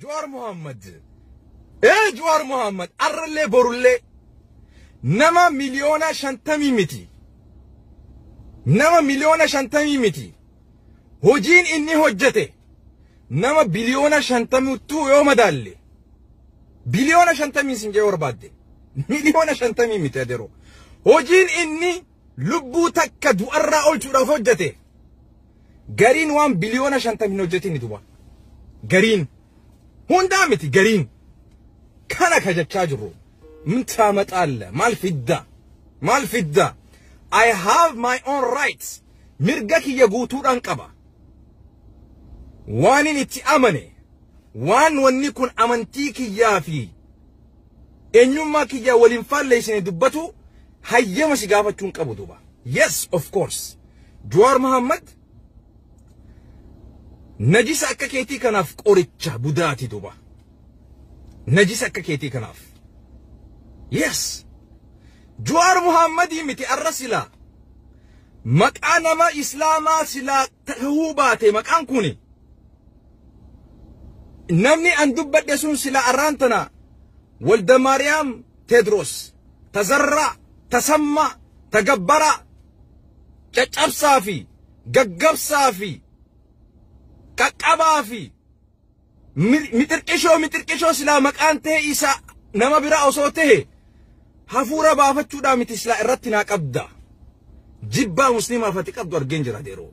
Juwaar Muhammad ee Juwaar Muhammad arrallee borullee nama miliyoona shantamii miti nama miliyoona shantamii miti hojiin inni hojjete nama biliyoona shantamittuu yoo madaalle biliyoona shantamii sin jee barbaadde miliyoona shantamii miti adeeroo hojiin inni lubbuu takka du'arraa olchuudhaaf hojjete Gariin waan biliyoona shantam hin hojjetin ni duba. Gariin. Hundaa miti gariin. Kana ka jechaa jirru. Min taamaxaalla. Maal fidda? Maal fidda? I have my own rights. Mirga kiyya guutuudhaan qaba. Waanin itti amane. Waan wanni kun amantii kiyyaa fi Eenyummaa kiyya wal hin faalleessine dubbatuu hayyama si gaafachuu hin qabu duuba. Yes of course. Jawaar Mohammed najisa akka keetii kanaaf qoricha budaati duuba. Najisa akka keetii kanaaf. Yes. Jawaar Mohammedii miti arra silaa. Maqaa nama Islaamaa silaa ta'uu baate maqaan kuni. Namni an dubbadhe sun sila arraan tana Walda Maariyaam Teedroos, Tazarraa, Tasammaa, Tagabbaraa, caccabsaa fi gaggabsaa fi qaqqabaa fi mixirqishoo mixirqishoo silaa maqaan ta'e isa nama biraa osoo ta'e hafuura baafachuudhaa miti silaa irratti naa qabda. Jibbaa musliimaaf ati qabdu argeen jira yeroo.